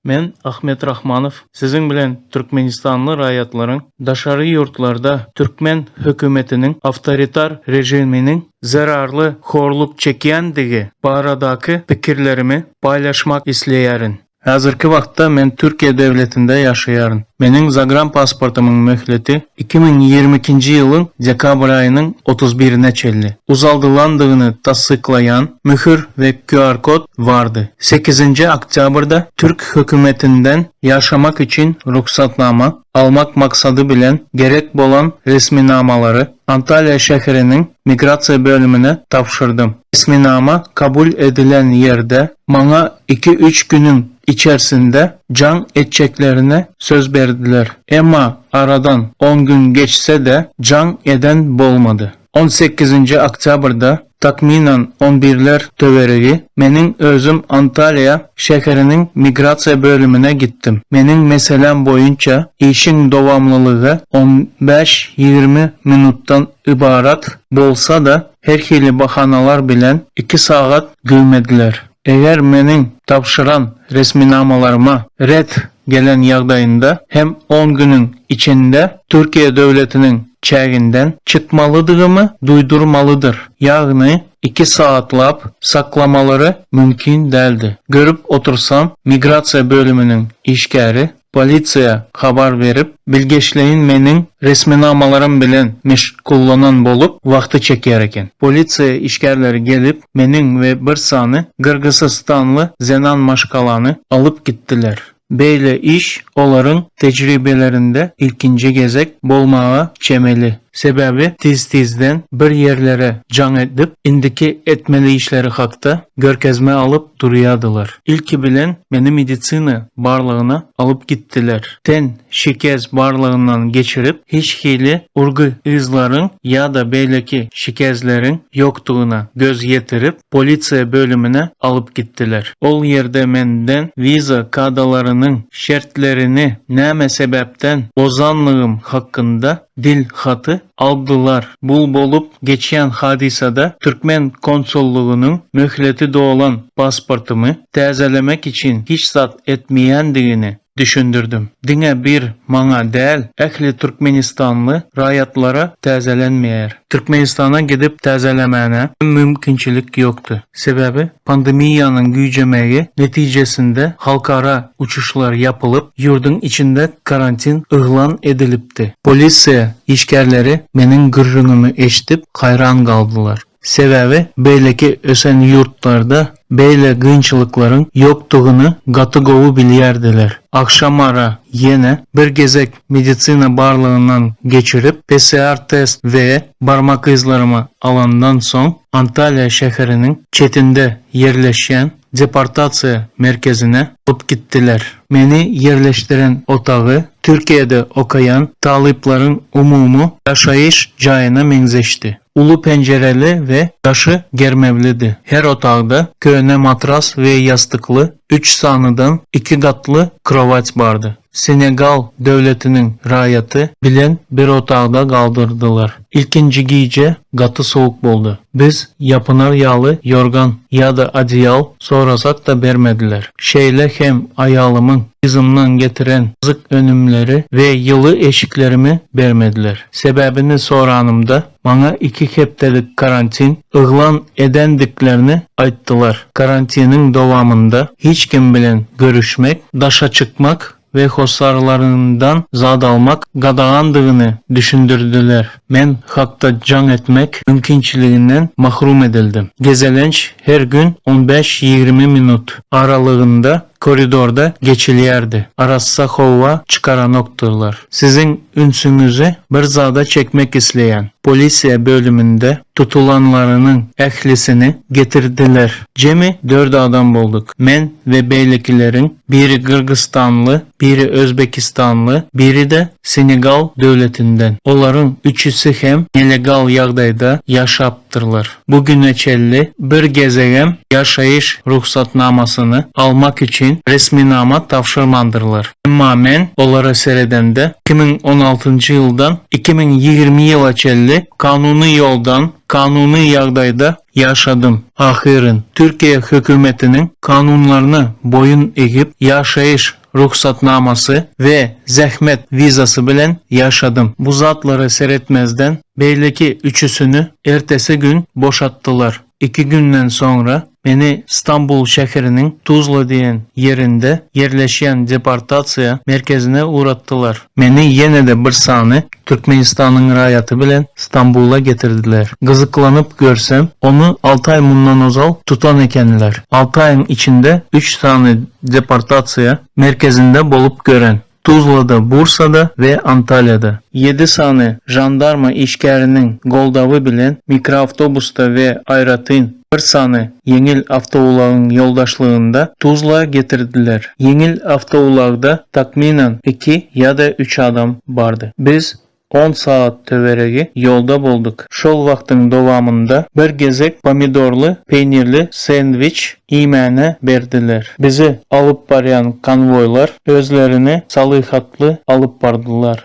Men Ahmet Rahmanow siziň bilen türkmenistanly raýatlaryň daşary ýurtlarda türkmen hökümetiniň awtoritar režiminiň zerarly horluk çekýändigi baradaky pikirlerimi paýlaşmak isleýärin. Häzirki wagtda men Türkiýe döwletinde ýaşaýaryn. Meniň zagrampasportymyň möhleti iki müň ýigrimi ikinji ýylyň dekabr aýynyň otuz birine çenli uzaldylandygyny tassyklaýan möhür we QR-kod bardy. Sekizinji oktýabrda türk hökümetinden ýaşamak üçin rugsatnama, almak maksady bilen gerek bolan resminamalary Antalýa şäheriniň migrasiýa bölümine tabşyrdym. Resminama kabul edilen ýerde maňa iki-üç günüň içersinde jaň etjeklerine söz berdiler. Emma aradan on gün geçse-de jaň eden bolmady. On sekizinji oktýabrda Takmynan on birler töweregi meniň özüm Antalýa şäheriniň migrasiýa bölümine gitdim. Meniň meseläm boýunça işiň dowamlylygy on bäş-ýigrimi minutdan ybarat bolsa-da, her hili bahanalar bilen iki sagat güwmediler. Eger meniň tabşyran resminamalaryma ret gelen ýagdaýynda hem on günüň içinde Türkiýe döwletiniň çäginden çykmalydygymy duýdurmalydyr, ýagny iki saatlap saklamalary mümkin däldi. Görüp otursam, migrasiýa bölüminiň işgäri polisiýa habar berip, bilgeşleýin meniň resminamalarym bilen meşgullanan bolup, wagty çekýär eken. Polisiýa işgärleri gelip, meniň we bir sany gyrgysystanly zenan maşgalany alyp gitdiler. Beýle iş olaryň tejribelerinde ilkinji gezek bolmaga çemeli. Sebäbi tiz-tizden bir ýerlere jaň edip, indiki etmeli işleri hakda görkezme alyp durýadylar. Ilki bilen meni medisina barlagyna alyp gitdiler. Ten Şikes barlagyndan geçirip, hiç hili urgy yzlaryň ýa-da beýleki şikesleriň ýokdugyna göz ýetirip, polisiýa bölümine alyp gitdiler. Ol ýerde menden wiza kadalarynyň şertlerini näme sebäpden bozanlygym hakynda dil haty aldylar. Bu bolup geçýän hadysada türkmen konsullygynyň möhleti dolan pasportymy täzelemek üçin hiç zat etmeýändigini, düşündirdim. Diňe bir maňa däl, ähli türkmenistanly raýatlara täzelenmeýär. Türkmenistana gidip täzelemäne hem mümkinçilik ýokdy. Sebäbi pandemiýanyň güýjemegi netijesinde halkara uçuşlar ýapylyp, ýurduň içinde karantin yglan edilipdi. Polisiýa işgärleri meniň gürrüňimi eşidip haýran galdylar. Sebäbi beýleki ösen ýurtlarda beýle gynçylyklaryň ýokdugyny gaty gowy bilýärdiler. Agşamara ýene bir gezek medisina barlagyndan geçirip, PCR test we barmak yzlarymy alandan soň, Antalýa şäheriniň çetinde ýerleşýän deportasiýa merkezine alyp gitdiler. Meni ýerleşdiren otagy Türkiýede okaýan talyplaryň umumy ýaşaýyş jaýyna meňzeşdi. Uly penjireli we daşy germewlidi. Her otagda köne matras we ýastykly üç sanydan iki gatly krowat bardy. Senegal döwletiniň raýaty bilen bir otagda galdyrdylar. Ilkinji gije gaty sowuk boldy. Biz ýapynar ýaly ýorgan ýa-da odeýal Sorasak-da bermediler. Şeýle hem aýalymyň yzymdan getiren gyzyk önümleri we ýyly eşiklerimi bermediler. Sebäbini soranymda, maňa iki hepdelik karantin yglan edendiklerini aýtdylar. Karantiniň dowamynda hiç kim bilen görüşmek, daşa çykmak we hossarlaryndan zat almak gadagandygyny düşündirdiler. Men hakda jaň etmek mümkinçiliginden mahrum edildim. Gezelenç her gün on bäş-ýigrimi minut aralygynda koridorda geçilýärdi. Arassa howa çykaranokdylar. Siziň ünsüňizi bir zada çekmek isleýän. Polisiýa bölüminde tutulanlarynyň ählisini getirdiler. Jemi dört adam bolduk. Men we beýlekileriň Biri gyrgyzstanly, biri özbekistanly, biri-de Senegal döwletinden. Olaryň üçüsi hem nelegal ýagdaýda ýaşapdyrlar. Bu güne çenli bir gezegem ýaşaýyş rugsatnamasyny almak üçin resminama tabşyrmandyrlar. Emma men olara seredemde, iki müň on altynjy ýyldan iki müň ýigrimi ýyla çenli kanuny ýoldan, kanuny ýagdaýda ýaşadym. Ahyryn, Türkiýe hökümetiniň kanunlaryna boýun egip, ýaşaýyş rugsatnamasy we zähmet wizasy bilen ýaşadym. Bu zatlara seretmezden, beýleki üçüsini ertesi gün boşatdylar. Iki günden soňra meni Stambul şäheriniň Tuzla diýen ýerinde ýerleşýän deportasiýa merkezine ugratdylar. Meni ýene-de bir sany Türkmenistanyň raýaty bilen Stambula getirdiler. Gyzyklanyp görsem, ony alty aý mundan ozal tutan ekenler. Alty aýyň içinde üç sany deportasiýa merkezinde bolup gören, Tuzlada, Bursada we Antalýada. Ýedi sany žandarma işgäriniň goldawy bilen mikroawtobusda we aýratyn bir sany ýeňil awtoulagyň ýoldaşlygynda Tuzla getirdiler. Ýeňil awtoulagda takmynan iki ýa-da üç adam bardy. Biz on sagat töweregi ýolda bolduk. Şol wagtyň dowamynda bir gezek pomidorly peýnirli sendwiç iýmäne berdiler. Bizi alyp barýan konwoýlar özlerini salyhatly alyp bardylar.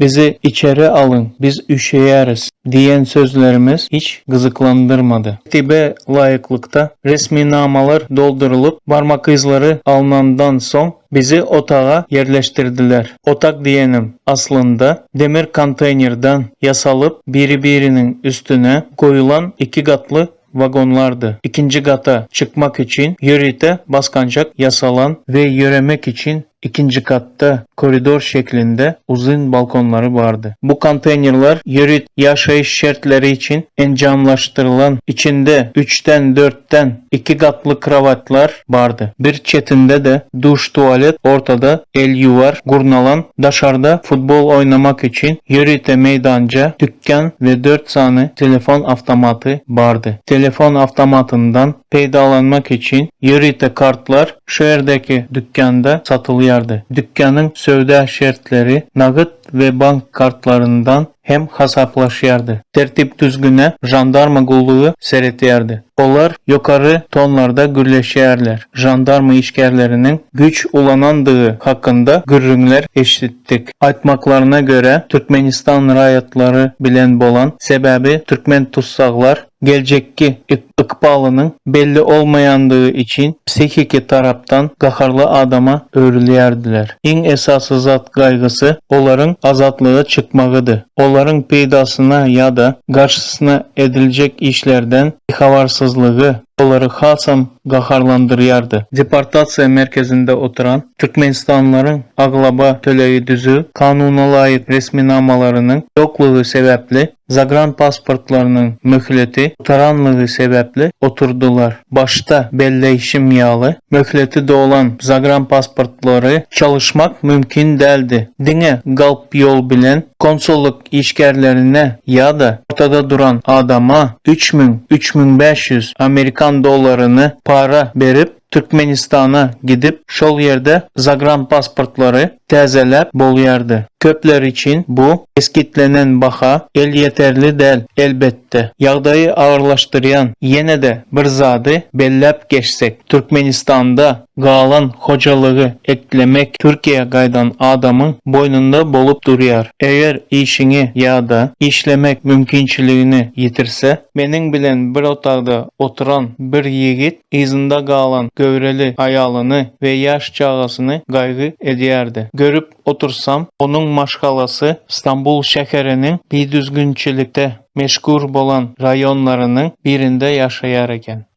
Bizi içeri alyň, biz üşeýäris diýen sözlerimiz hiç gyzyklandyrmady. Tertibe laýyklykda resminamalar doldurylyp, barmak yzlary alnandan soň, bizi otaga ýerleşdirdiler. Otag diýenim, aslynda, demir konteýnerden ýasalyp, biri-biriniň üstüne goýulan iki gatly wagonlardy. Ikinji gata çykmak üçin ýörite basgançak ýasalan we ýöremek üçin ikinji gatda koridor şeklinde uzyn balkonlary bardy. Bu konteýnerler ýörit ýaşaýyş şertleri üçin enjamlaşdyrylan, içinde üçden dörtden iki gatly krowatlar bardy. Bir çetinde-de duş-tualet, ortada elýuwar gurnalan, daşarda futbol oýnamak üçin ýörite meýdança, dükän we dört sany telefon awtomaty bardy. Telefon awtomatyndan peýdalanmak üçin ýörite kartlar şu ýerdäki dükanda satylýardy. Dükanyň söwda şertleri nagyt we bank kartlaryndan hem hasaplaşýardy. Tertip-düzgüne žandarma gullugy seretýärdi. Olar ýokary tonlarda gürleşýärler, žandarma işgärleriniň güýç ulanandygy hakynda gürrüňler eşidýärdi. etdik. Aýtmaklaryna görä, Türkmenistan raýatlary bilen bolan sebäbi türkmen tussaglar geljekki ykbalynyň belli olmaýandygy üçin psihiki tarapdan gaharly adama öwrülýärdiler. Iň esasy zat gaýgysy olaryň azatlyga çykmagydy. Olaryň peýdasyna ýa-da garşysyna ediljek işlerden bihabarsyzlygy olary hasam gaharlandyrýardy. Deportasiýa merkezinde oturan türkmenistanlylaryň aglaba tölegi düzüw, kanunalaýyk resminamalarynyň ýoklugy sebäpli, zagranpasportlarynyň möhleti gutaranlygy sebäpli oturdylar. Başda belleýşim ýaly, möhleti dolan zagranpasportlary çalyşmak mümkin däldi. Diňe galp ýol bilen konsullyk işgärlerine ýa-da ortada duran adama üç müň, üç müň bäş ýüz amerikan dollaryny para berip, Türkmenistana gidip, şol ýerde zagranpasportlary täzeläp bolýardy. Köpler üçin bu kesgitlenen baha elýeterli däl, elbetde. Ýagdaýy agyrlaşdyrýan ýene-de bir zady belläp geçsek, Türkmenistanda Galan hojalygy eklemek Türkiýä gaýdan adamyň boýnunda bolup durýar. Eger işiňi ýa-da işlemek mümkinçiligini ýitirse, meniň bilen bir otagda oturan bir ýigit yzynda galan göwreli aýalyny we ýaş çagasyny gaýgy edýärdi. Görüp otursam, onuň maşgalasy Stambul şäheriniň bidüzgünçilikde meşgur bolan raýonlarynyň birinde ýaşaýar eken.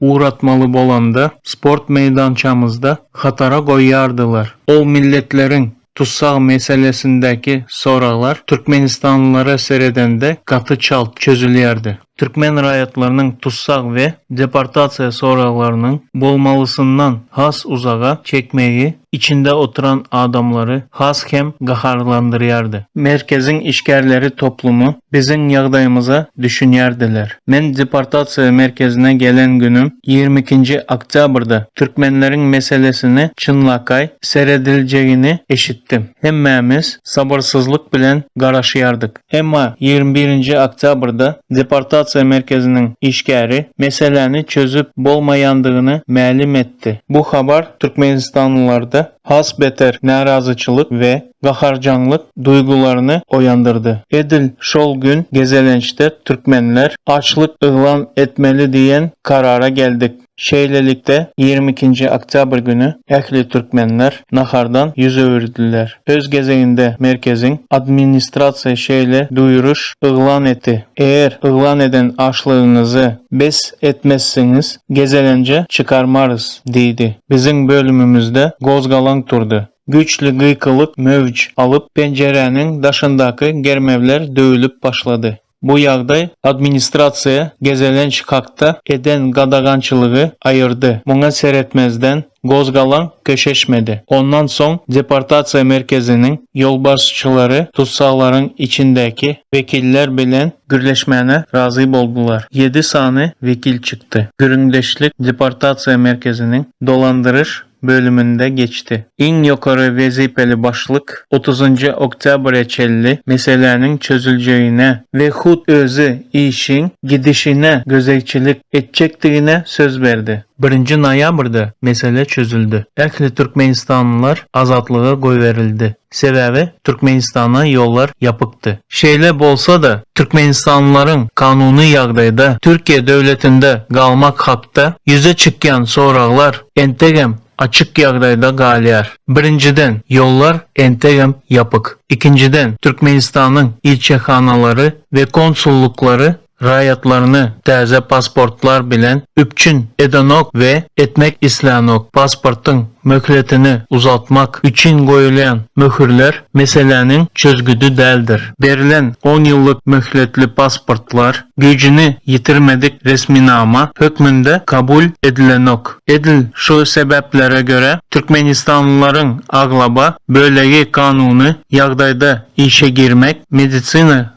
ugratmaly bolanda, sport meýdançamyzda hatara goýýardylar. Ol milletleriň tussag meselesindäki soraglar türkmenistanlylara seredende gaty çalt çözülýärdi. Türkmen raýatlarynyň tussag we deportasiýa soraglarynyň bolmalysyndan has uzaga çekmegi içinde oturan adamlary has hem gaharlandyrýardy. Merkeziň işgärleri toplumy biziň ýagdaýymyza düşünýärdiler. Men deportasiýa merkezine gelen günüm ýigrimi ikinji oktýabrda türkmenleriň meselesini çynlakaý serediljegini eşitdim. Hemmämiz sabyrsyzlyk bilen garaşýardyk. Emma ýigrimi birinji oktýabrda deportasiýa merkeziniň işgäri meseläni çözüp bolmaýandygyny mälim etdi. etdi. Bu habar türkmenistanlylarda has beter närazyçylyk we gaharjaňlyk duýgularyny oýandyrdy. Edil şol gün gezelençde türkmenler açlyk yglan etmeli diýen karara geldik. Şeýlelikde, ýigrimi ikinji oktýabr güni ähli türkmenler nahardan ýüz öwürdiler. Öz gezeginde merkeziň administrasiýa şeýle duýuryş yglan etdi, Eger yglan eden açlygyňyzy bes etmezsiňiz, gezelenje çykarmarys diýdi. Biziň bölümimizde gozgalaň turdy. Güýçli gykylyk möwç alyp, penjiräniň daşyndaky germewler döwülip başlady. Bu ýagdaý administrasiýa gezelenç hakda eden gadagançylygy aýyrdy. Muňa seretmezden, gozgalaň köşeşmedi. Ondan soň deportasiýa merkeziniň ýolbaşçylary tussaglaryň içindäki wekiller bilen gürleşmäne razy boldular. Ýedi sany wekil çykdy. Gürrüňdeşlik deportasiýa merkeziniň dolandyryş bölüminde geçdi. Iň ýokary wezipeli başlyk otuzynjy oktýabra çenli meseläniň çözüljegine we hut özi işiň gidişine gözegçilik etjekdigine söz berdi. Birinji noýabrda mesele çözüldi. Ähli türkmenistanlylar azatlyga goýberildi. Sebäbi Türkmenistana ýollar ýapykdy. Şeýle bolsa-da, türkmenistanlylaryň kanuny ýagdaýda Türkiýe döwletinde galmak hakda ýüze çykýan soraglar entegem açyk ýagdaýda galýar. Birinjiden, ýollar entegem ýapyk. Ikinjiden, Türkmenistanyň ilçihanalary we konsullyklary raýatlaryny täze pasportlar bilen üpjün edenok we etmek islänok. Pasportyň möhletini uzaltmak üçin goýulýan möhürler meseläniň çözgüdi däldir. Berlen on ýyllyk möhletli pasportlar güýjüni ýitirmedik resminama hökmünde kabul edilenok. Edil şu sebäplere görä, türkmenistanlylaryň aglaba bölegi kanuny ýagdaýda işe girmek, medisina